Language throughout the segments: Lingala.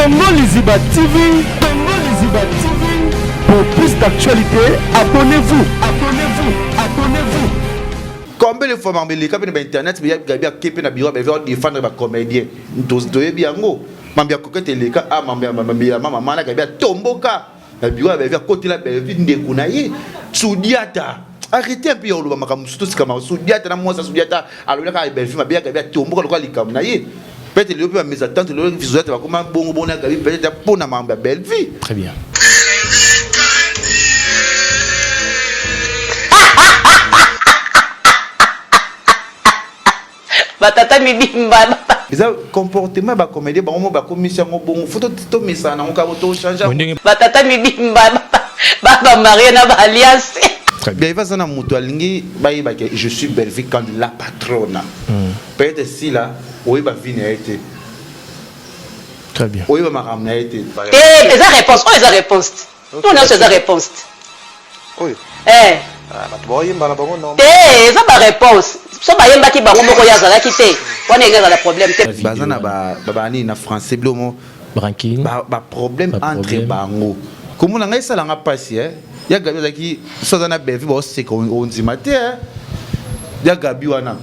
Congo Liziba TV, Congo Liziba TV. Pour plus d'actualités, abonnez-vous, abonnez-vous, abonnez-vous. Combien de fois mambe leka pe na internet mais gabi akepe na bureau ba veut défendre ba comédien. Ntozi toyebi yango. Mambe akokete leka a mambe mambe ya mama mana gabi atomboka. na biro ya Bellevue akotela Bellevue ndeko na ye Sudiata arrete un peu ya koloba makambo mosusu tosika makambo Sudiata na mwasi ya Sudiata alobelaka Bellevue mabe ya Gabi atomboka lokola likambo na ye peut-être lelo mpe ba mes attentes lelo Sudiata bakoma bongo bongo na Gabi peut-être mpo na makambo ya Bellevue très bien ba tata mibimba eza comportement ba comédien bango mo bakomisi yango bongo fo tomesana nango kaka to change batata mibimba babamarie na baalliance bien eva aza na moto alingi bayeba ke je suis bellevue quand la patrona hmm. peut-être sila oyeba vi na ye te très bien oyeba makambo na ye te te eza réponse oyo eza réponse te Oyo nionso eza reponse te. Oyo. Eh. Ah, bato baoyemba na bango normal. Te, eza ba reponse. So bayembaki bango moko ye azalaki te. Wana enge azala problème te. Baza na ba ba nini na français blomo. Ranking. Ba, ba problème entre bango. Komona ngai sala nga pasi eh. Ya Gabi azalaki so aza na Bellevue baoseka ondima te eh. Ya Gabi wana.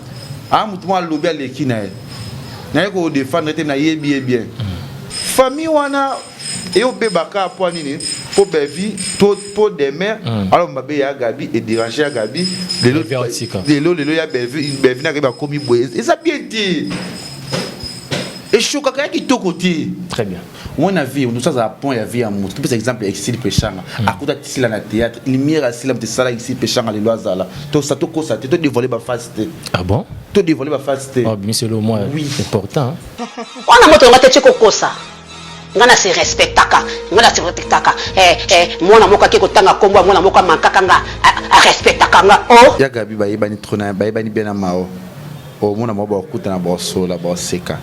Ah, moto mwa alobi aleki na ye. Naye ko defendre te nayebi ye bien. Famille wana et au bebaka po nini po bevi to po demeure mm. alors mabe ya gabi et déranger ya gabi lelo lelo lelo ya bevi bevi na ba komi boye eza bien te eshokaka ya kitoko te très bien wana vie nous sommes à point ya vie ya moto topesa exemple ya exil peshanga mm. akuta tisila na théâtre lumière asila moto esala exil peshanga lelo azala tosa tokosa te todévoile baface te ah bon todévoile baface te ah, bimisi elo mwa important wana moto yonga te tye kokosa Nga na se respectaka, nga na se respectaka eh eh Mwana moko ake ko tanga kombo ya mwana moko a manquaka nga A respectaka nga oh. Ya Gaby ba yebani trop na ba yebani bien na Mao O mona mwa ba kutana ba solola ba seka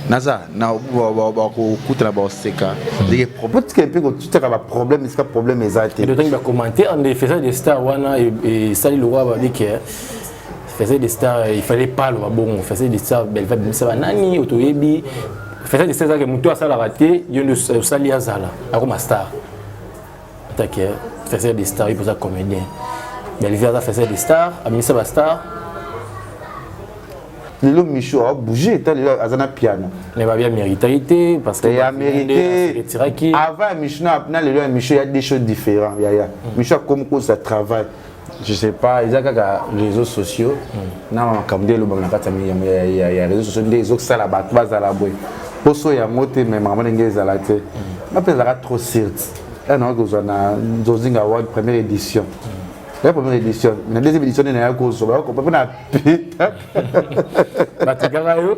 Naza na ba ba ba ko kutana ba seka Ndenge problème tika mpe ko tutaka ba problème iska problème eza te. Ndotangi ba commentaire nde faisant des stars wana e sali lokwa ba bike faisait des stars il fallait pas aloba bongo faisait des stars belva bimisa banani otoyebi faisait des stars ake motu asalaka te yo nde osali azala akoma star atake faisait des stars ipoza comédien belvi aza faisait des stars abimisa bastar lelo micho abouge ta lelo aza na piano mais babi ameritaki te parce que ya méritetiraki avant ya micho na lelo ya micho ya deux choses différents yaya micho akomi kosa travail je sais pas eza kaka réseaux sociaux hmm. na makambo nde elobama na kati ya réseaux sociaux nde ezosala bato bazala boye poso yango te me makambo ndenge ezala te hmm. nga mpe ezalaka trop sirte eh, nayaki kozwa na nzozinga award première édition hmm. ya première édition na deuxième édition nde nayaki kozwa bakopa mpo na pita batikaka yo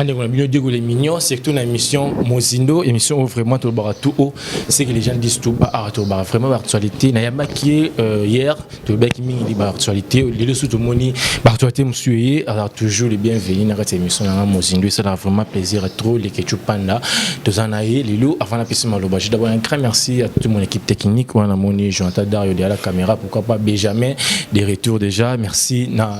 bandeko na bino diego les mignons surtout na émission mozindo émission oyo vraiment tolobaka tout haut ce que les gens disent tout bas awa tolobaka vraiment baactualité nayambaki ye euh, hier tolobaki mingi li baactualité lelo susu tomoni baactualité mosusu eye alors toujours le bienvenu na kati ya émission nanga mozindo esalaka vraiment plaisir trop leketchu panda toza na ye lelo avant napesi maloba je d'abord un grand merci à toute mon équipe technique wana namoni jonathan dario de la caméra pourquoi pas benjamin des retours déjà merci na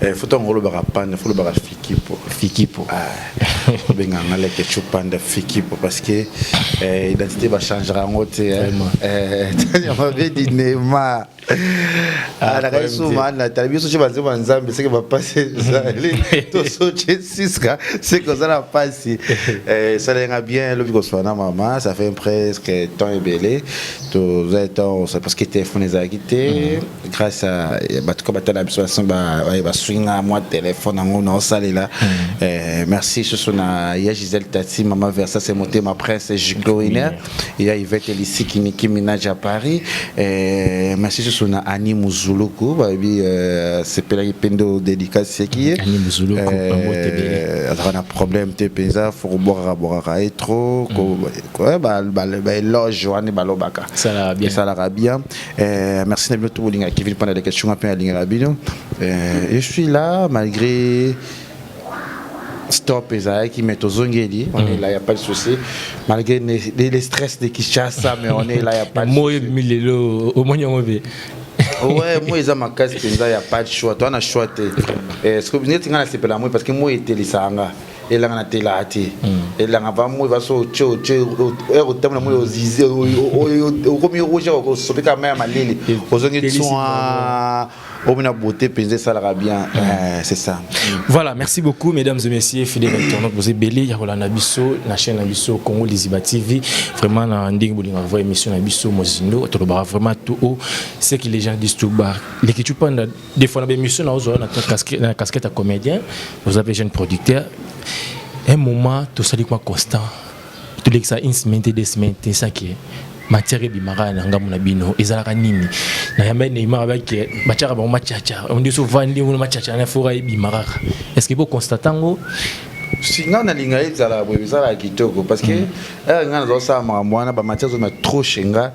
Eh, futa ngolo baka panda fulo baka fikipo fikipo ah benga ngale ke chupanda fikipo parce que eh, identité ba changera ngo te eh. eh tanya ma vie di nema ah, ah la su mana tali biso chiba nzema nzambe seke ba passer zali to so che siska seke zala passi eh ça lenga bien lobi ko swana mama ça fait presque temps ebele to zai temps parce que téléphone ezaki te mm. grâce à eh, bato ka batala biso basin baswinga mwa telefone yango naosalela hmm. eh, merci susu na ya gisele tati mama versa se motema prince gloiner ya ivete lisiki niki minage à paris eh, merci susu na ani muzuluku bayebi sepelaki mpe nde odedikasi yaki ye azalaka na problème te mpenza fo kobwakaka bwakaka ye trop hmm. baeloge wana balobaka esalaka bien Euh, merci Nabino tout bolinga Kevin pendant les questions après linga Nabino. Euh, je suis là malgré stop ezalaki mais tozongeli on est mm. là y a pas de souci malgré les, les stress de Kinshasa mais on est là y a pas de souci. Moi milelo au moins on ouais moi eza makasi penza y a pas de choix toi na choix te. Est-ce que vous n'êtes pas là c'est pas moi parce que moi était lisanga. elanga na tela te elanga vamoi vaso otie otie ere otambola moi ozize okomi rouge osopi kaka mai ya malili ozongi tswa omi na beauté mpenza esalaka bien mm. eh, c'est ça voilà merci beaucoup mesdames et messieurs fidèle internaute boza ebele ya kolanda biso na chaîne na biso congo liziba tv vraiment na ndenge bolingaka voi émission na biso mozindo tolobaka vraiment tout haut ce que les gens disent tout bas leki tupanda des fois na ba émission na ozwa na casquette na casquette ya comédien vous avez jeune producteur un moment tosali kwa constant tolekisa une semaine te deux semaines te saki matière ebimaka na ngambo na bino ezalaka nini na yamba neymar abaki batiaka bango machacha ondi so vandi ngo machacha na fora ebimaka est ce que bo constate ngo singa nalinga ezala boye ezalaka kitoko parce que mm. eh, nga nazosala makambo wana bamatière zomia trop chenga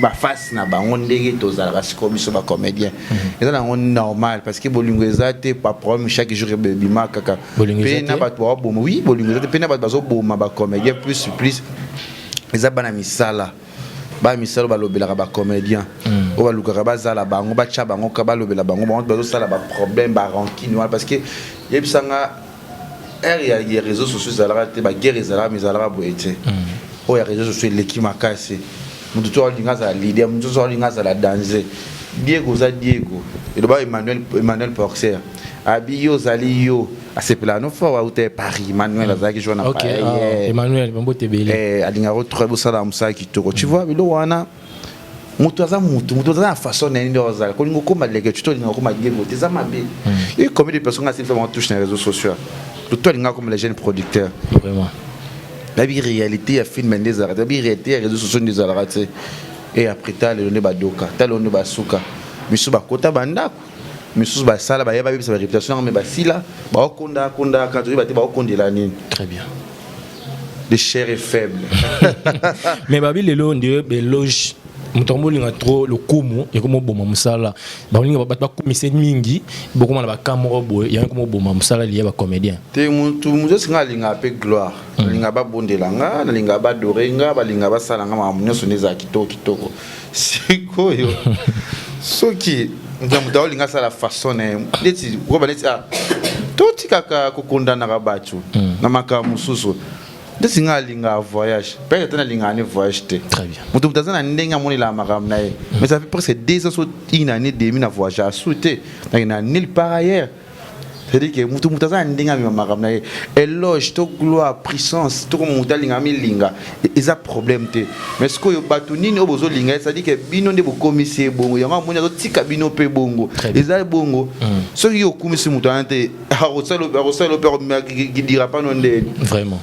ba face na bango ndenge tozalaka sikoyo biso ba comédien mhm. eza nango normal parce que bolingo eza te pa problème chaque jour ebima kaka mpe na bato bawaboma oui bolingo eza te mpe na bato bazoboma ba comédien plus plus eza bana misala bana misala balobelaka ba comédien mhm. oyo balukaka bazala bango batya bango ka balobela bango bango bazosala ba problème ba rancune wana parce que yebisanga ère ya, ya réseaux sociaux ezalaka te ba guerre ezalaka mais ezalaka boye te mm. oyo ya réseaux sociaux eleki makasi moto to alinga azala leader moto nyonso alinga azala danger diego oza diego eloba emmanuel, emmanuel porcer abi yo ozali yo asepelaka no fort auta ya paris emmanuel mm. azalaki jour na okay, uh, emmanuel mambote ebele eh, alingaka trop bosala mosala kitoko tu mm. vois bilo wana mm. moto aza moto moto aza na façon na ye nde ozala kolinga okoma leke tuto olinga okoma gebo te eza mabe ye hmm. combien de personnes nga silfa touche na réseau social tuto alinga akoma le jeune producteur vraiment nayebi réalité ya film nde ezalaka te nayebi réalité ya réseau sociaux nde ezalaka te e après ta lelo nde badoka ta lelo nde basuka misusu bakota bandako misusu basala baye babebisa bareputation yango me basila baokonda kondaka toyeba te baokondela nini très bien de chair et faible mais babi lelo ndio beloge moto yango bolinga trop lokumu ekomi oboma mosala balinga bato bakomise mingi bokoma na bakan moko boye yango ekomi oboma mosala liya bacomédien te motu moto esinga alingaka mpe gloire hmm. nalinga babondela nga nalinga badore nga balinga basala nga makambo nyonso nde ezala kitoko kitoko sikoyo soki moto aolinga asala façon na ye neti koba neti ah, totikaka kokondanaka bato hmm. na makambo mosusu ndeti ngai alingaka voyage peut ata nalingaka ne voyage te moto moto aza na ndenge amonelaka makambo na ye hmm. mais ça fait presque deux ans so une année demi na voyage asu te nakenda nulle part ailleurs c'est-à-dire que mutu mutu aza na ndenge amema makambo na ye eloge to gloire puissance toko mutu alinga amilinga e-, eza problème te mais sikoyo bato nini oyo bozolinga ye c'est-à-dire que bino nde bokomisi ye bongo yango amoni azotika bino mpe bongo eza bongo mm. soki yo okumisi moto wana te akosala yo mpe akomidira pano nde vraiment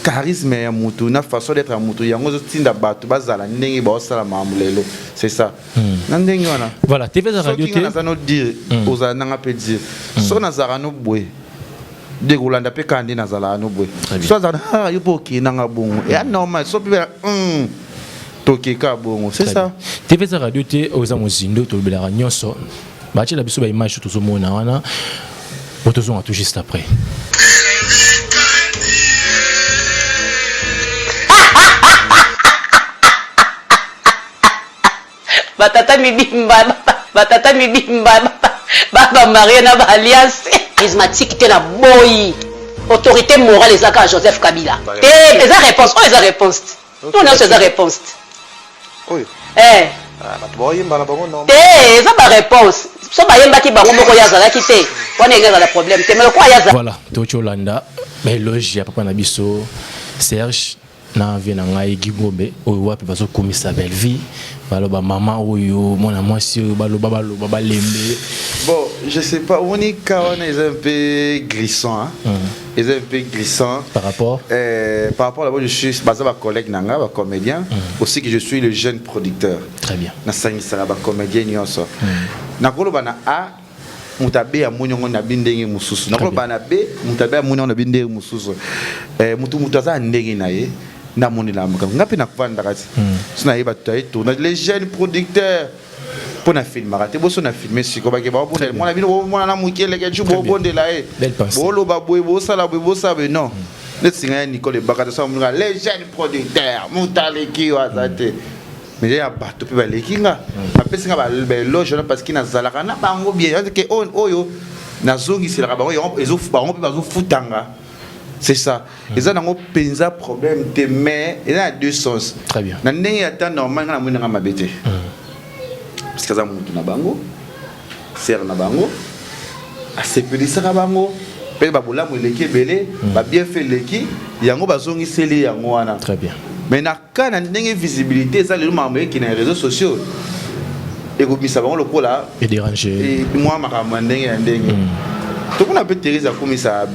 charisme ya motu na façon d'être ya motu yango ezotinda bato bazala ndenge baosala makambo lelo c'est ça Hmm. na ndenge wana voilà tv eza radio te naza no dire hmm. ozala nanga mpe dire hmm. so nazalaka no boye de kolanda mpe kaka nde nazalaka no boye so azala ah, yo mpe okei nanga bongo ya normal so mpe tokeka bongo c'est ça tv eza radio te oza mozindo tolobelaka nyonso batyela biso baimage tozomona wana po tozonga tout juste après ba tata mibimba ba tata mibimba ba ba marie na ba alliance prismatique te na boyi autorité morale eza kaka Joseph Kabila te eza réponse oyo eza réponse te oyo nyonso eza réponse te oyo eh ah, bato baoyemba na bango normal te eza ba réponse so bayembaki bango moko ye azalaki te wana enge azala problème te mais lokola ye azala voilà toki olanda baeloge ya papa na biso serge na vie na ngai gigobe oyo wapi bazokumisa bellevie baloba mama oyo mwana mwasi oyo baloba baloba balembe bon je sais pas omoni ka wana eza un peu glissant mm. eza un peu glissant par rapport euh, par rapport labo je suis baza bacollègue na ngai bacomédien mm. aussi que je suis le jeune producteur très bien nasangisaka bacomédien nyonso mm. nakoloba na a mutabe ya moni yango na bi ndenge mosusu nakoloba na be mutabe ya moni yango na bi ndenge mosusu eh, mutu mutu aza na ndenge na ye namonela makambo ngai mpe nakofandaka ti hmm. so naye bato taye tournage les jeunes producteurs mpo na filmaka te boso na filme siko bake baobondela mwana bino bomona na moke eleke ju bobondela ye boloba boye bosala boye bosala boye non hmm. neti ngai ya nicole ebakata sa moninga les jeunes producteurs moto aleki yo aza te hmm. mais ya bato mpe baleki nga bapesi nga baeloge wana parce que nazalaka na bango bien ke oyo nazongiselaka bango yango bango mpe bazofutanga c'est ça hmm. eza nango mpenza problème te mais eza na deux sens très bien na ndenge ya temps normal nga namoni nanga mabe te hmm. parce que aza motu na bango sere na bango asepelisaka bango mpe babolamu eleki ebele hmm. babienfe eleki yango bazongiseli yango wana très bien mais na Kaka na ndenge visibilité eza lelo makambo eki na réseaux sociaux ekobimisa bango lokola mwa makambo ya ndenge ya ndenge mm. tokuna mpe therese akumisa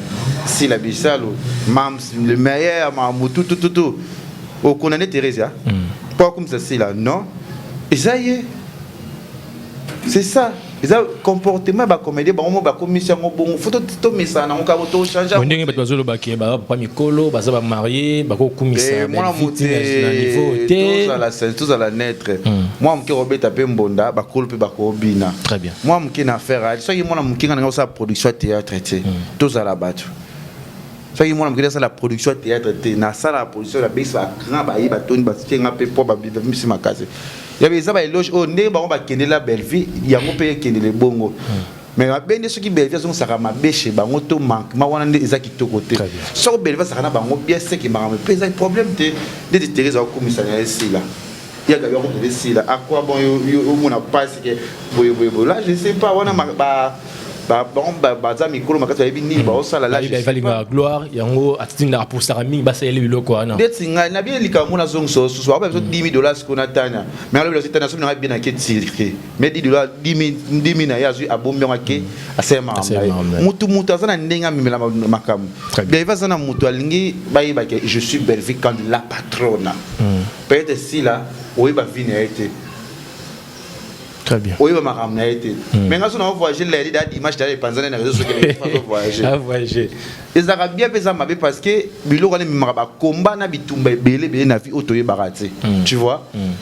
sila bisalo mams le meilleur makambo tutututu okona nde therese ya mpo akumisa sila non eza ye c'est ça eza comportement ba comédien bango mo bakomisi yango bongo fo tomesana nango kaka tochange ndenge bato bazolobaki bapapa mikolo baza bamarie bakokumisa eh, mwana motezala netre hmm. mwana moke kobeta mpe mbonda bakolo mpe bakobina mwana moke na affaire soki mwana moke nga nanga osala production ya théâtre te hmm. tozala bato soki mwana mokili asala production ya théâtre te nasala production na base ba grand baye batoni basike nga mpe mpo babimisi makasi yabe eza baeloge oyo ndenge bango bakendela bellevie yango mpe ekendele bongo mais mabe nde soki bellevie azongisaka mabe chez bango to manquement wana nde eza kitoko te soki bellevie azalaka na bango bien seke makambo mpe ezali problème te ndeti therese akokumisa na ye sila ya gabi ako pede sila a quoi bon yo omona pasi ke boye boye boye là je sais pas wana ba baza mikolo makasi bayebi nini baosala labalinga gloire yango atindaka posaka mingi basaleli biloko wana ndeti ngai nabi likambo mona azongisa osusu bakoba biso 10 dollars siko na tania mais alobi tania soki nanga bien ake tirike mais 10 dollars 10 na ye azwi abombi yango ake asala makambo motu motu aza na ndenge amemela makambo bellevue aza na motu alingi bayebake je suis bellevue kandi la patrona hmm. Peut être Sila oyeba vie na ye te. Très bien. Oyeba makambo na ye te. Hmm. Mais nga so na voyager la lida dimanche d'aller panzana na réseaux sociaux na pas voyager. Ah voyager. Ezaka bien pesa mabe parce que biloko na mimaka ba combat na bitumba ebele bele na vie oto yebaka te. Hmm. Tu vois? Hmm.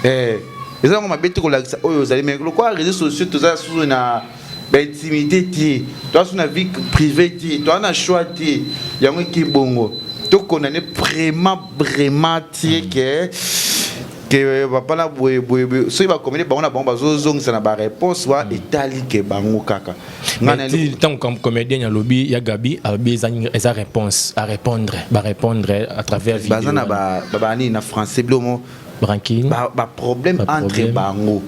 Eh ezalaka mabe te kolakisa oyo ozali me lokola réseau sociaux toza susu na ba intimité te toza so na vie privée te toza na choix te yango eke bongo to condamne vraiment vraiment tie ke ke papa na boye boye soki bakomeli bango na bango bazozongisa na bareponse wa etali ke bango kaka ntango comédien alobi ya gabi alobi eza réponse arépondre barépondre à travers baza na banini na français bilomo Ranking. Ba, ba problème ba entre problème. bango.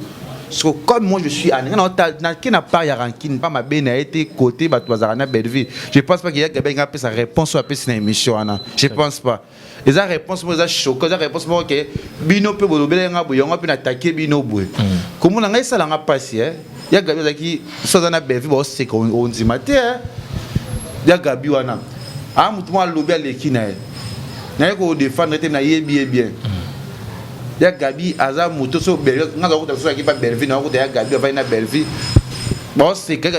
So comme moi je suis à na na qui n'a pas ya ranking pas ma bena été côté ba tu na Bellevue. Je pense pas qu'il y a Gabriel qui a sa réponse à sa émission ana. Je pense pas. Et sa réponse moi ça choquant, sa réponse moi que bino pe bolobela nga boyanga pe na attaquer bino boye. Comment nga ça la nga passer ya gabi azalaki so aza na bellevue baoseka ondima te eh. ya gabi wana aa ah, motu mwa alobi aleki na ye naye kodefendre te nayebi ye bien ya gabi aza moto so bellevue nga nakuta so alaki mpa bellevue nakuta ya gabi avai na bellevue baoseka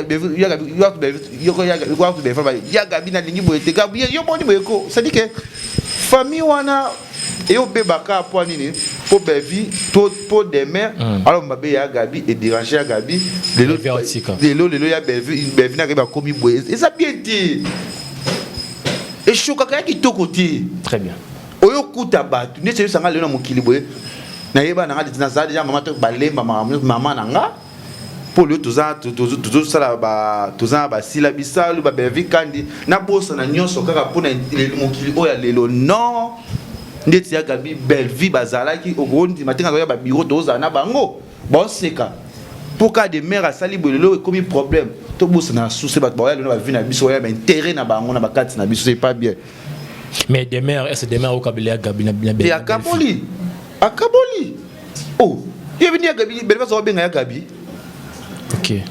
ya gabi nalingi boye te gabi yo boni boye ko sadike famille wana et au bebaka po nini po bevi to po demain mm. alors mabe ya gabi et déranger ya gabi lelo lelo lelo ya bevi bevi na ba komi boye eza bien te eshokaka ya kitoko te très bien oyo kuta bato neti oyebisanga lelo na mokili boye nayeba nanga nazala deja mama to balemba mama na nga mpo lelo toza tozosala toza na basila bisalu babevi kandi nabosana nyonso kaka mpo na mokili oyo ya lelo non ndeti ya gabi bellevie bazalaki okondima te nazoya babiro tozala na bango baoseka mpo kaka de mare asali boye lelo ekomi problème tobosana na suse bato baoya lelo na bavi na biso oya baintere na bango na bakati na biso epa bien mais demeure ese demeure okabeli ya gabi na bia akaboli akaboli oh ye bini ya gabi bele bazo benga ya gabi okay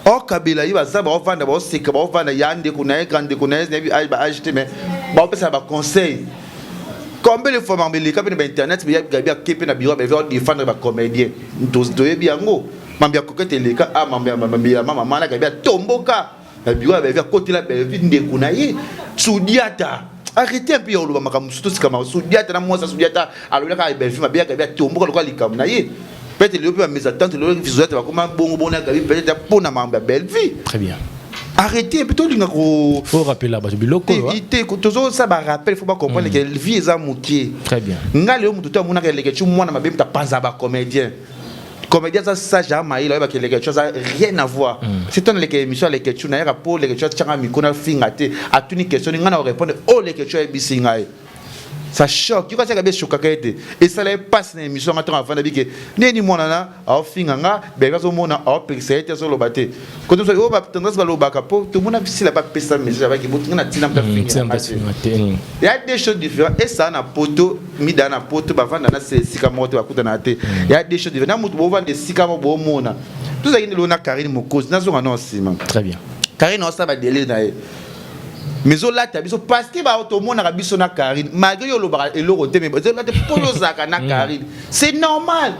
okabela ye baza baovanda baoseka baovanda ya ndeko na ye grand ndeko na ye nayebi ba age te mais baopesa na baconseil combien de fois mambo eleka mpe na bainternet gabi ake mpe na biro beve odefendre bacomédien toyebi yango mambo ya kokete eleka a ah, mambo ya mama mana gabi atomboka na biro ya Bellevue akotela Bellevue ndeko na ye Sudiata arrete un peu ya koloba makambo mosusu tosika makambo Sudiata na mwasi ya Sudiata alobelaka Bellevue mabe ya Gabi atomboka lokola likambo na ye peut-être lelo mpe ba mes attentes lelo Sudiata bakoma bongo bongo na Gabi peut-être mpo na makambo ya Bellevue très bien arrete mpe tolinga ko faut rappeler bato biloko oyo te tozosala ba rappel faut bacomprendre ke vie eza moke très bien ngai lelo moto to amonaka eleke ti mwana mabe moto apanzaka bacomédien comédien aza sage ya mayele oyeba ke leketchu aza rien à voir mm. si tona leke émission ya leketchu nayaka mpo leketchu atyanga mikro na finga te atuni question ngai na orépondre oyo oh, leketchu ayebisi ngai ça choque yoko asaka beshokaka ye te esala ye mpasi na émission nga ntango afanda bike ndeni mwana na aofinga nga beka azomona aopekisa ye te azoloba te koto so yo ba tendance balobaka po tomona sila bapesa message abaki botinga na ntina mpe afinga te ya des choses différentes esa na poto mida na poto bavanda na sila esika moko te bakutanaka te ya des choses différentes na moto bovanda esika moko bomona tozalaki ndelo na karine mokozi nazonga nao nsima très bien karine osala badele na ye mais ezolata biso parce que bao tomonaka biso na karine malgré yo olobaka eloko te mais ezolata mpo yozalaka na karine c'est normal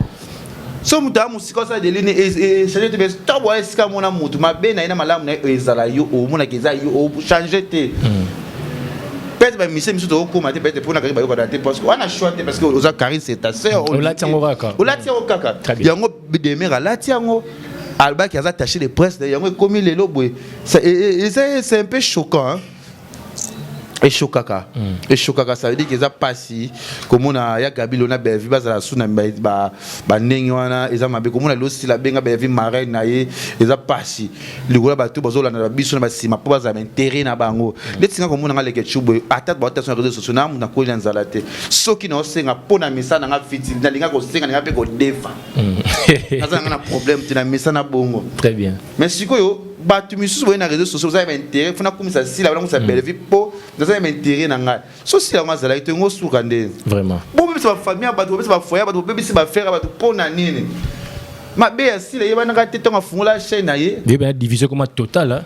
so moto aya mosika osala delini echange te mais ntango aya esika mona moto mabe na ye na malamu na ye ezala yo omonaka eza yo ochange te hmm. peut-être ba mission misu to koma te peut-être pona kaka bayoka te parce que wana choix te parce que oza Karine c'est ta sœur on lati yango kaka on lati yango kaka yango demeure lati yango albaki aza taché de presse yango ekomi lelo boye c'est un peu choquant hein eshokaka eshokaka ça veut dire que eza pasi komona ya gabilo na bellevue bazala su na ba, ba, ba ndenge wana eza mabe komona lelo sila benga bellevue marraine na ye eza pasi likola bato bazolanda na biso na basima mpo bazala baintere na bango ndeti nga komona nga leke chubwe ata baotaso na réseau sociaux na mutu nakoli na nzala te soki naosenga mpo na mesa na nga fiti nalinga kosenga na nga mpe kodefa naza na nga na problème te na mesa na bongo très bien mais sikoyo bato misusu boye na réseau sociaux oza ya baintérêt fona akumisa sila wana akumisa bellevue mpo naza ya baintérêt na ngai so sila yango azalaki to yango osuka nde vraiment bobebisa bafamille ya bato bobebisa bafoye ya bato bobebisi bafere ya bato mpo na nini mabe ya sila eyebanaka te ntango afungola chaîne na ye yebana division ekoma totale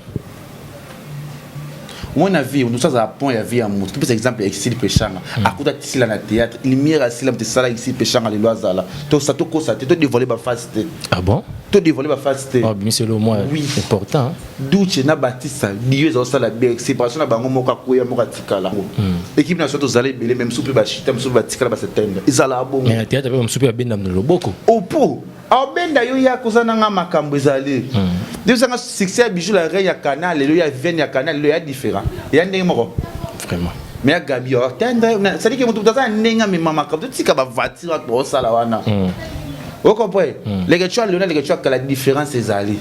omoi na vie onusu azala pont ya vie ya moto topesa exemple ya exil peshanga hmm. akuta tisila na théâtre lumière asila moto esala exil peshanga lelo azala tosa tokosa te todevoile baface te ah bon todevoile baface te bimiselo mwa important duce na batista dio ezakosala bien séparation na bango moko akoya moko atikala hmm. ekipe na biso tozala ebele me mosusu mpe bashita mosusu batikala basetende ezala bongo théâtre mpe mosusu mpe babenda na loboko opo oh, aobenda yo yaka oza na nga makambo ezali nde ozanga succès ya bijou la reine ya canal lelo ya viviane ya canal lelo ya différent ya ndenge moko vraiment mais ya gabi atendre cestadire ke moto moto aza na ndenge amema makambo totika bavoiture aka osala wana okompre leke tu alona leke tu akala différence ezali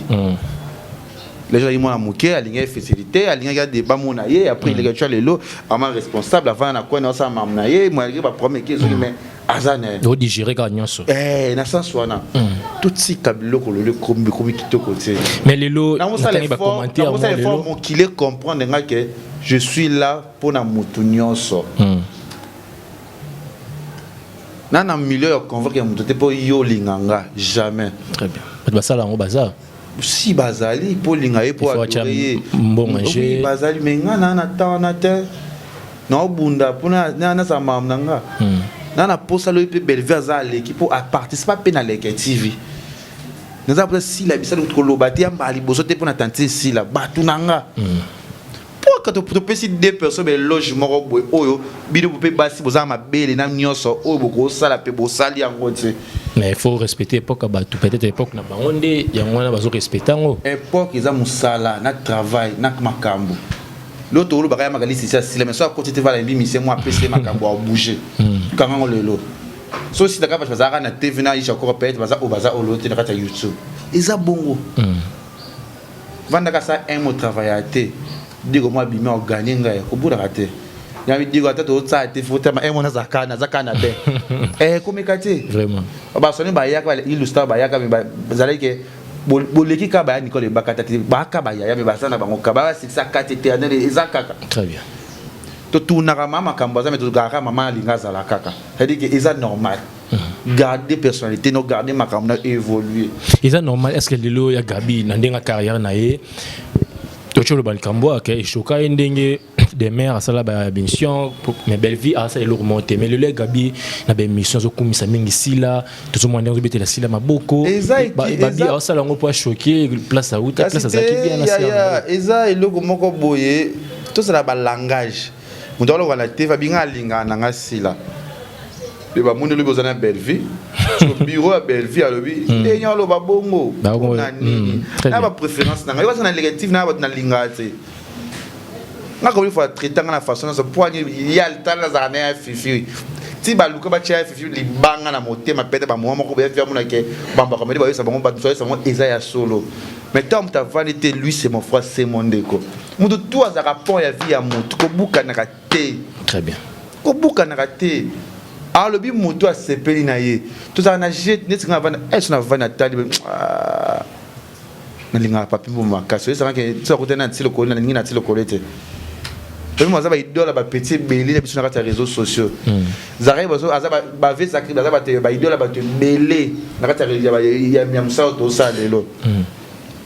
lelo azali mwana moke alingaki facilité alingaki adeba mona ye après leke tu lelo ama responsable avanda na coin na osala mamu na ye moyalike baproblème eke ezoki mais aza na ye odigere kaka nyonso eh, na sens wana hmm. totika biloko lelo ekomi kitoko te mais lelo natangi bacommentaire lelo mokili comprendre nga ke je suis là mpo na motu nyonso hmm. na na milieu ya convoque ya moto te mpo yo olinga nga jamais très bien bato basala yango baza si bazali mpo olinga ye mpo adore ye oui bazali me nga naa na temps wana te naobunda mpo nazala makambo na nga hmm. na na posa loyi mpe bellevue aza aleki mpo aparticipa mpe na leke tv naza mposa sila bisali koloba te ya mbala liboso te mpo na tantine sila bato na nga mm. Pourquoi to topesi deux personnes ba eloge moko boye oyo bino mpe basi boza mabele na nyonso oyo bokosala mpe bosali yango te mais il faut respecter époque ya bato peut-être époque na bango nde yango wana bazo respecte yango époque eza mosala na travail na makambo lelo tokolobaka ya makalisi esi asila mais so akoti te vala yembi misie mwa apesi ye makambo abouge hmm. kanga yango lelo so sitaka bato bazalaka na tv na isha kora peut-être baza oyo baza oyo lelo te na kati ya youtube eza bongo mm. vanda ka sa un mot travailler te digo mwa bima o gagner ngai ko buraka te ya digo ata to tsa te faut tama un mot na zaka na zaka na be eh ko meka te vraiment ba soni ba yaka ba ilustra ba yaka ba zalaki ke boleki ka baya nikole bakata te baka bayaya me baza na bango ka basikisa kati eternel eza kaka très bien totunaka ma makambo aza me tozalaka mama alinga azala kaka cetadire ke eza normal Mhm. garder personnalité no garder makambo na évoluer eza normal est ce que lelo ya gabi na ndenge carrière na ye toki oloba likambo ake eshoka ye ndenge demeure asala baémission mais bellevie asala eloko moko te mais lelo ya gabi na baémission azokumisa mingi sila tozomona ndenge azobetela sila maboko babi asala yango mpo ashoke place auta place azalaki bien na eza eloko moko boye tozala balangage Moto aloba na TV abinga alingana na nga sila. Pe ba moni lobi oza na Bellevue. Sur bureau ya Bellevue alobi hmm. ndenge aloba bongo. Na nini? Hmm, na ba préférence na nga. Yo baza na négatif na ba na linga te. Nga ko fa traiter nga na façon na so poigne ya tala za na fifi. Ti ba luka ba tia fifi libanga na motema pete ba mwa moko ba via mona ke bamba komedi ba yesa bango ba tsoyesa bango eza ya solo. Mais tant ta vanité lui c'est mon frère c'est mon ndeko. moto tu azalaka pont ya vie ya moto kobukanaka te très bien kobukanaka te alobi moto asepeli na ye tozala na je neti nga avanda eso na vanda tali ah, nalingaka papi mbo makasi oyesangaka ti akota na ti lokolo nalingi na ti lokolo ete oyo aza baidole bapeti ebele na biso na kati ya réseaux sociaux hmm. zakari aza bave zakari baza baidole bato ebele na kati ya mosala tosala lelo hmm.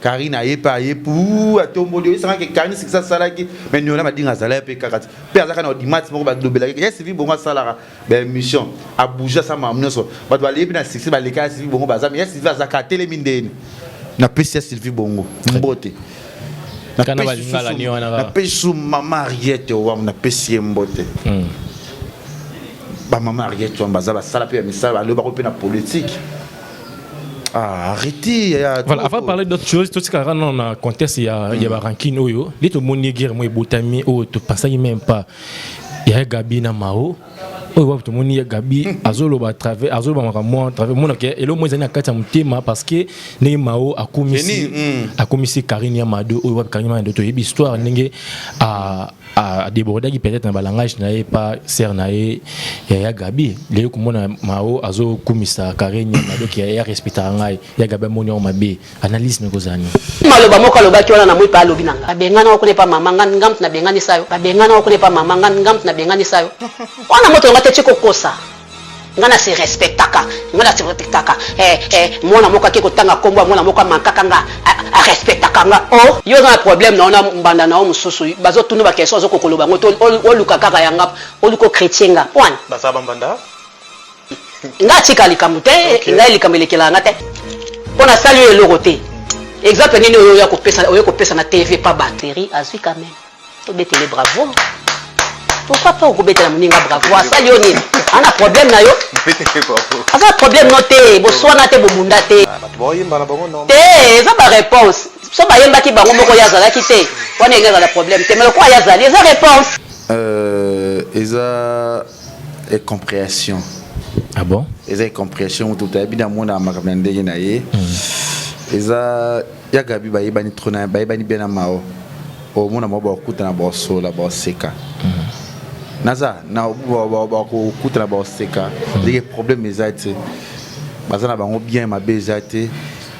Karine aye pe aye puu atomboli yo esanga ke Karine sikisa asalaki me niola madinga azala ye pe kaka ti pe aza kaka na audimat moko balobelaki ye sivi bongo asalaka ba émission abouge asala makambo nyonso bato baleye pe na succès baleka ya sivi bongo baza me ya sivi aza kaka atelemi ndeni napesi ya sylvie bongo mbote napesi su mama ariete owam napesi ye mbote hmm. bamama ariete wam baza basala mpe ya misala balobi bako mpe na politike Ah, arrêtez ya voilà avant parler d'autres choses totikaka nano na contexte ya ya barankine oyo nde tomoni guerre moko ebotami oyo topasaki même pas ya gabi na mao oyo wapi tomoni ya gabi azoloba travers azoloba makambo mwa travers monaka eloko moko ezali na kati ya motema parce que ndenge mao akomisi akomisi karine ya mado oyo wapi karine ya mado toyebi histoire ndenge a débordaki peut-être na ba langage na ye pa sœur na ye ya ya Gabi leo komona Mao azo kumisa Karenya na doki ya respecta ngai ya Gabi amoni yango mabe analyse na kozani maloba moko alobaki wana na moi pa alobi na ngai babengana okune pa mama ngai ngamtu na bengani sayo babengana okune pa mama ngai ngamtu na bengani sayo wana moto ngai te tiko kosa Nga na se respectaka, nga na se respectaka eh eh Mwana moko ake ko tanga kombo ya mwana moko a manquaka nga A respectaka nga oh. Yo oza na problème na yo na mbanda na yo mosusu bazo tuna ba question ozo ko koloba ngo te oluka kaka ya nga oluka o critie nga pwan. Baza ba mbanda? Nga atika likambo te nga likambo elekela nga te po na sali yo eloko te exemple nini oyo oya kopesa oye kopesa na TV pa batterie azui quand meme. tobetele bravo pourquoi pas okobetela moninga bravo asali yo nini ana problème na yo aza problème no te boswana te bobunda te ah, te eza baréponse so bayembaki bango moko ye azalaki te wana enge ezala problème te mais lokola ye azali eza réponse euh, eza incomprehension ah bon eza incomprehension moto toyebi na mona makambo ya ndenge na ye hmm. eza Ya Gabi bayebani trop na bayebani bien na Mao. Omona mwa bakutana baosola baoseka. Naza na bakutana baoseka ndenge problème eza te. Baza na bango bien mabe eza te.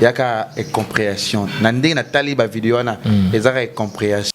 Yaka incomprehension. Na ndenge natali ba video wana ezaka incomprehension.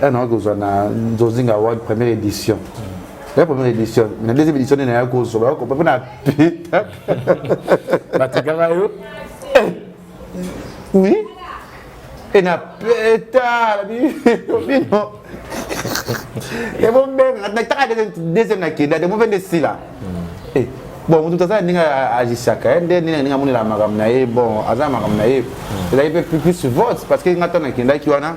Là, nous avons na Nzozinga Award première édition. La première édition, la deuxième édition, nous avons cause. Nous avons pas pita. Batikala yo. Oui. Et na pita. Bino. Et bon ben, na taka deuxième na kenda, de mauvais desi là. Eh. bon moto tozala ndenge agisaka ye nde ndenge ndenge amonela makambo na ye bon aza makambo na ye ezali mpe plus vote parce que nga ntango nakendaki wana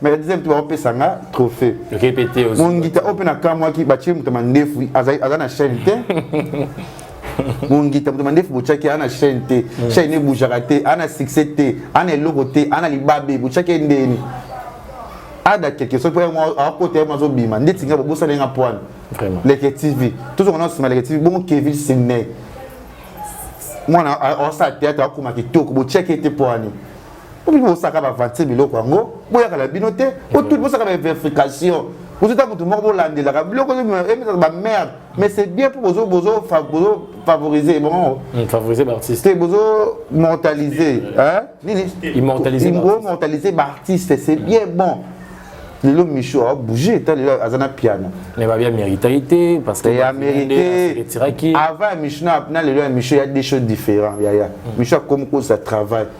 mais la deuxième tour opesa nga trophée répété aussi mongita ope na kamwaki batie moto mandefu aza na chaîne te mongita moto mandefu botyaki ana chaîne te mm. chaîne ebujaka te ana succès te ana eloko te ana libabe botyaki endeni ada quelque chose mpo akota ye mazobima ndeti nga bobosala nga poine leke tv tozonga na nsima leke tv bongo kevin sidney mwana asala théâtre akoma kitoko botyaki ete poani obi bosaka bavanse biloko yango boyaka na bino te otuti bosaka bainvefrication bozota motu moko bolandelaka biloko emesaka bamerde mais c'est bien mpo bozo bozo bozo favoriser bango hmm, favoriser baartiste te bozo mortaliser nini immortaliser immortaliser baartiste c'est bien bon lelo micho abouge ta lelo aza na piano mais babia méritaki te parce que ya méritetiraki avant ya micho na lelo ya micho ya des choses différents yaya micho akomi kosa travail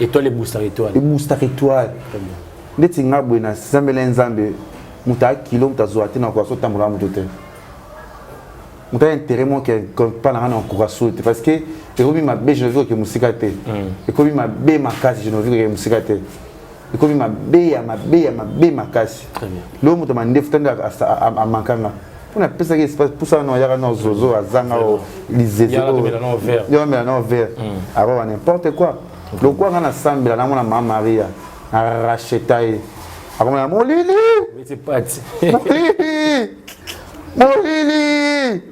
Étoile ebustaka étoile. Ebustaka étoile. Ndeti nga boye na sambela nzambe muta kilo muta zuwa te na kwa so tambola muto te. Muta intérêt mon que pas na na kwa so te parce que ekomi mabe je ne veux que musika te. Hmm. Ekomi mabe makasi je ne veux que musika te. Ekomi mabe ya mabe ya mabe makasi. Très bien. Lo muta mandefu tanda amankanga. mpo napesaki espace pusa wana oyaka na zozo azanga o lizezeomela na vert akoba n'importe quoi lokuwa nga nasambela namona ma maria na racheta ye akomona molili molili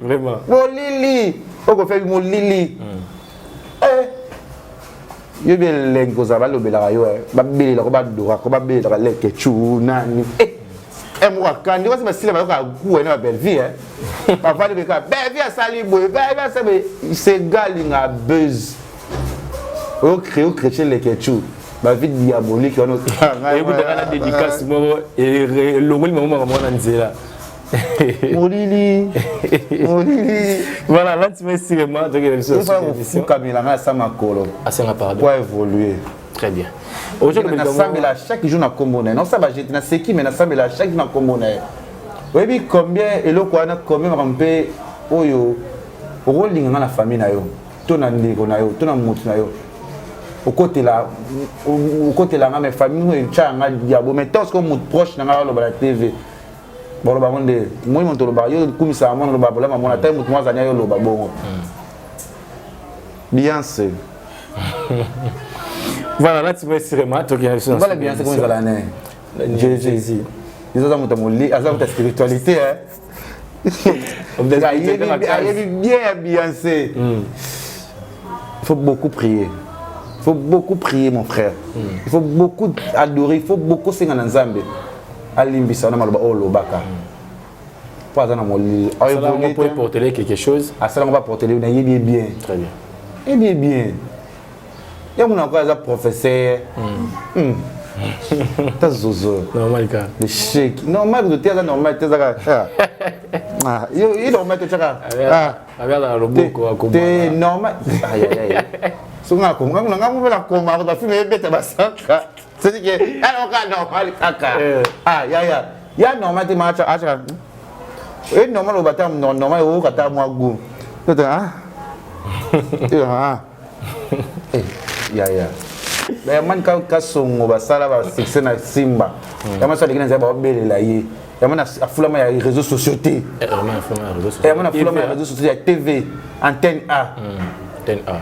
molili okofeki molili hmm. eh. yo bie leng kozala balobelaka yo eh. babelela ko badora ko babelelaka leke cu nani eh, eh, moko akandi wasi basila bayoka kuwa na babelvie eh. bavandi beka belvie asali boye belvie asali boye segalinga buzz oyo crée o chrétien leke cu bavi diabolique wana ekutaka na dédicace moko elongoli mamomaka mwana nzela molili molili voilà là tu me cinéma donc il y a ça ça vous fout kabila nga sa makolo asenga pardon quoi évoluer très bien aujourd'hui na sambela chaque jour na kombo na non ça va jeter na seki mais na sambela chaque jour na kombo na oyebi combien eloko wana combien makambo mpe oyo okolinga nga na famille na yo to na ndeko na yo to na motu na yo okotela okotela nga me famille oyo etya nga diabo me toske motu proche na nga aloba na tv boloba ngo nde moi moto olobaka yo kumisa mwana oloba bolama mwana tai moto mwazani ayo oloba bongo bianse voilà lati mesirema tokenda biso bala bianse komi ezala ne jésus izo aza moto moli aza moto ya spiritualité ayebi bien ya bianse hmm. faut beaucoup prier faut beaucoup prier mon frère hmm. il faut beaucoup adorer il faut beaucoup senga na nzambe alimbisa na maloba oyo olobaka mpo aza na molili portele quelque chose asalanga mpo aportele nayebi ye bien très bien yebi ye bien ye mona ko aza professeur ta zozo normal ka le chèque normal kutu te aza normal te ezaka yo ye normal te tyaka abiyazaka loboko akote normal soki nakoma ngango mpe nakoma kota filme ebeta basaka c'est que alors ka normal kaka eh. ah ya ya ya normal te ma acha acha et normal au bata normal au kata moi goût c'est ah ah eh, ya ya mais man ka ka songo ba sala ba succès na simba ya ma sala kina za ba belela ye ya mana afulama ya réseaux sociaux te ya mana afulama ya réseaux sociaux ya tv antenne a antenne a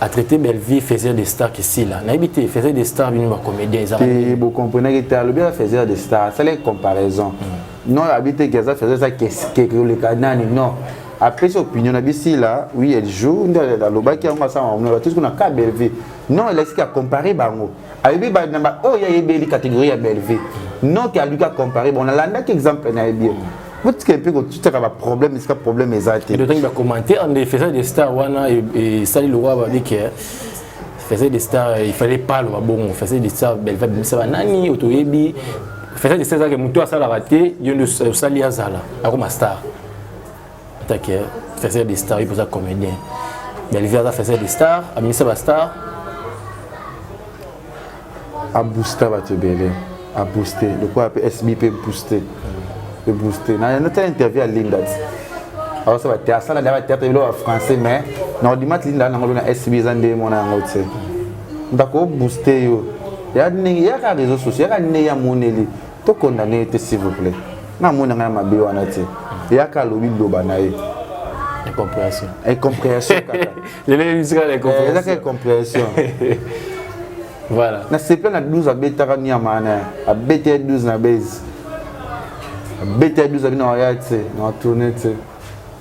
a traité Bellevue faisait des stars qui sila nayebi te faisait des stars bino ba comédien eza te bo comprenez te alobi a faisait des stars c'est la comparaison mm. non abi te gaza faisait ça qu'est-ce que le kanani non apesi opinion na bisi la oui elle joue nde alobaki yango asala mamona batisi kuna ka Bellevue non elakisi ka comparer bango ayebi ba namba oyo oh, ayebeli catégorie ya Bellevue non ke aluki acompare bon nalandaki exemple na ye bien botika mpe kotiaka baproblème esika problème eza te otangi bacommentaire nde faisage de star wana esali lokola babike faisage de star il fallait pas aloba bongo faisage de star Bellevue abimisa banani oyo toyebi faisage de star ezalaki motu asalaka te yo nde osali azala akoma star atake faisait des stars ipoza comédien belvie aza faisait des stars abimisa bastar aboosta bato ebele abooste lokola mpe sb mpe booste mpe booste natala interview ya linda ti aosa bate asala nde bateatre ebele ba français mais na audimat linda nango lona sb eza nde mona yango te ndako obooste yo yaka ndenge yaka réseau sociaux yaka ndenge ya moneli to condamner ye te s'il vous plaît na mona ngai mabe wana te yaka alobi loba na ye incomprehension incomprehension kaka lelo emisika na incomprehension ezaka incomprehension voilà na sepla na 12 abetaka niama wana abeta ye 12 na base abeta ye 12 abi na waya te na tourne te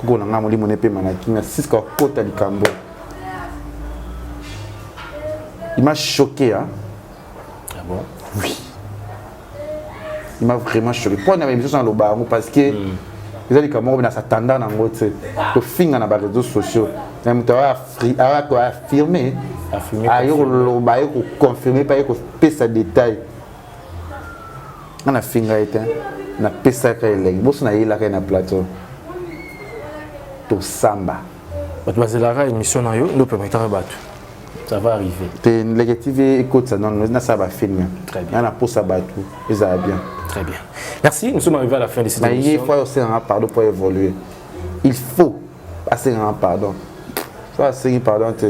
koko na ngai molimo na epema na kimia siska okota likambo il m'a choqué hein? ah bon? oui il m'a vraiment choqué mpo na bamisusu naloba yango parce que mm. eza likambo moko binasa tanda na yango te tofinga na bareseau sociaux na moto aya koaffirme aye koloba aye koconfirme mpe aye kopesa détail nga na finga ye te na pesaka elengi boso na yelaka ye na plateau tosamba bato bazelaka émission na yo nde opermetaka bato ça va arriver te ndeke tv ekotisa nono nasala bafilme nga na posa bato ezala bien très bien merci nous sommes arrivés à la fin de cette émission naye fois osengaka pardon pour évoluer il faut asengaka pardon so asengi pardon te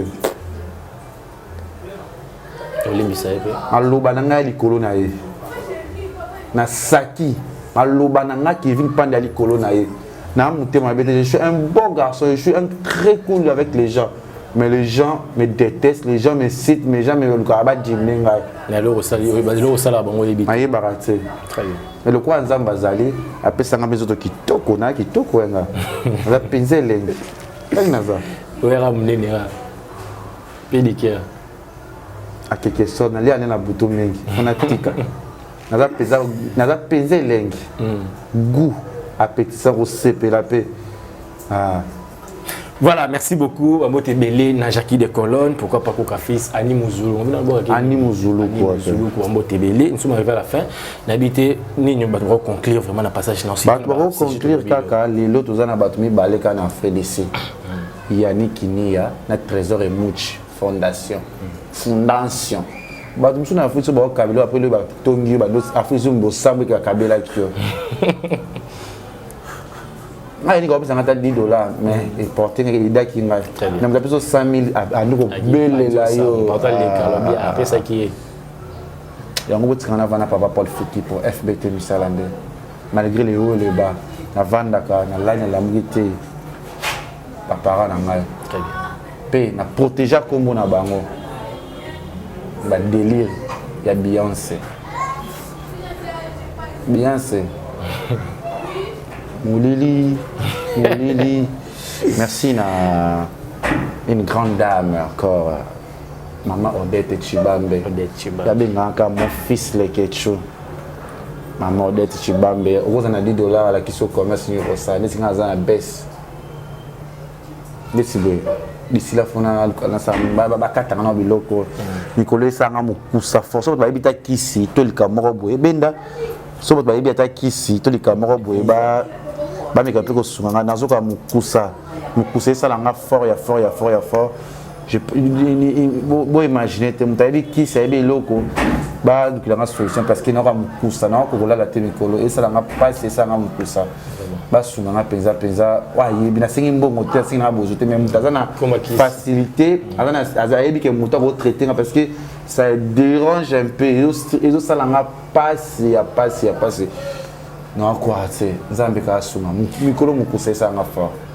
olimbisa ye mpe maloba na ngai ya likolo na ye na saki maloba na ngai kevin pande ya likolo na ye na motema mabe te je suis un bon garçon je suis un très cool avec les gens mais les gens me détestent les gens me citent mais gens melukaka badimne ngai eloko osalaka bango oyebi nayebaka te mais lokola nzambe azali apesanga mpe nzoto kitoko na kitoko yanga aza mpenza elengi ndenge naza oyaka monene pedicure akeke so nalia nde na butu mingi mpo natika naza mpenza elengi hmm. goût apetisa kosepela mpe ah. Voilà, merci beaucoup. Amote Belé, Najaki de Colonne, pourquoi pas Koka Fils, Annie Mouzoulou. Annie Mouzoulou, quoi. Mouzoulou, quoi. Amote Belé. Nous sommes arrivés à la fin. N'habité, ni nous devons conclure vraiment le passage dans ce Nous devons conclure, Kaka, les lots, nous avons battu, balé, kana, frais d'ici. yani kiniya na trésor emuch fondation fondation bato mosusu na afrique so bakokabela apres loyo batongi yo afrique so bosambo eke bakabelaki yo ngai nika opesanga ata 10 dollar mais eporte ndenge elidaki ngai na moto apeso 100 mille andi kobelela yo apesaki ye yango botikana vana papa paul fiki po fbt misala nde malgré les hauts et les bas navandaka nalali nalamuki te bapara na ngai mpe na protégea nkombo na bango badelire ya beyonce beyonce molili molili merci na une grande dame encore Maman Odette Chibambe. Odette Chibambe. Yabe ngaka mon fils Lekechou. Maman Odette Chibambe. Okoza na 10 dollars à la kiso commerce ni kosa. Nesi nga za na baisse. Nesi boye. bisila fona bakataka na biloko mikolo esanga mokusa force bato bayebi ta kisi to likambo moko boye ebenda so bato bayebi ata kisi to likambo moko boye bameka mpe kosunga ngai nazoka mokusa mokusa esala nga fort ya fort ya fort ya fort boimagine te moto ayebi kisi ayebi eloko balukela nga solution parce que nayoka mokusa nayoka kokolala te mikolo esala nga mpasi esala nga mokusa basunga nga mpenza mpenza ayebi nasengi mbongo te asengi nga bozo te mais moto aza na facilité ayebi ke moto akotraite nga parce que ça dérange un peu ezosala nga mpasi ya mpasi ya mpasi nakoa te nzambe kaasunga mikolo mokusa esala nga fort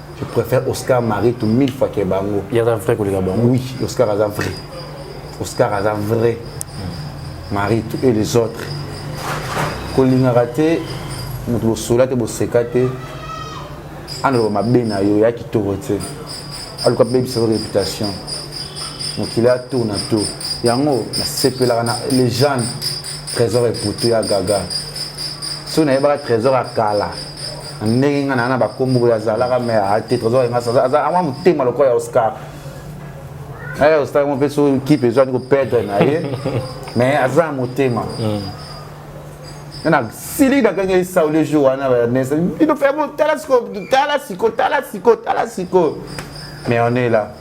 Je préfère Oscar Maritu mille fois que bango. Il y a un vrai collègue bango. Oui, Oscar a un vrai. Oscar a un vrai. Maritu et les autres. Kolingaka te moto bosola te boseka te andoko mabe na yo ya kitoko te aluka bebisa yo réputation mokili ya tour na tour yango nasepelaka na legende trésor eputu ya gaga soki nayebaka trésor ya kala ndenge nga na bakombo boye azalaka me ate trésor engas aza ama motema lokola ya oscar eh, oscar mo mpe so kipe ezwani koperdre na ye mais aza na motema na siliki nakangi esau le jour wana banesa bino fe tala siko tala siko tala siko tala siko mais on est là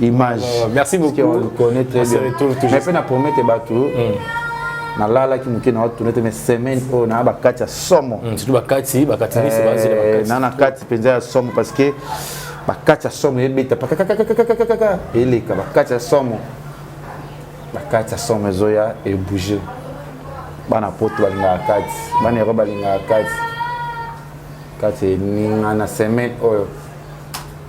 image oh, merci beaucoup on le connaît très bien mais pe na promettre batu hmm. na lala ki muke na watu nete mais semaine oyo na ba kati ya somo hmm, surtout ba kati ba kati ni se ba zela ba eh, kati na na kati penza ya somo parce que ba kati ya somo ebeta pa kaka kaka kaka kaka kaka eleka ba kati ya somo ba kati ya somo ezoya e bouger bana poto balingaka kati bana yako balingaka kati kati eninga na semaine oyo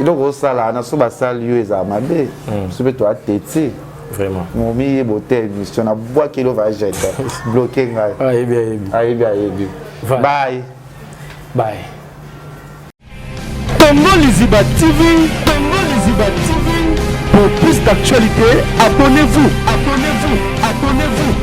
eloko osala na so basali yo ezala mabe hmm. so mpe toya tete momiyebo te émission na bwaki elo vajete bloke ngai ayebi ayebi ayebi ayebi baye baye tongo liziba tv tongo liziba tv pour plus d'actualité abonnez-vous abonnez-vous abonnez-vous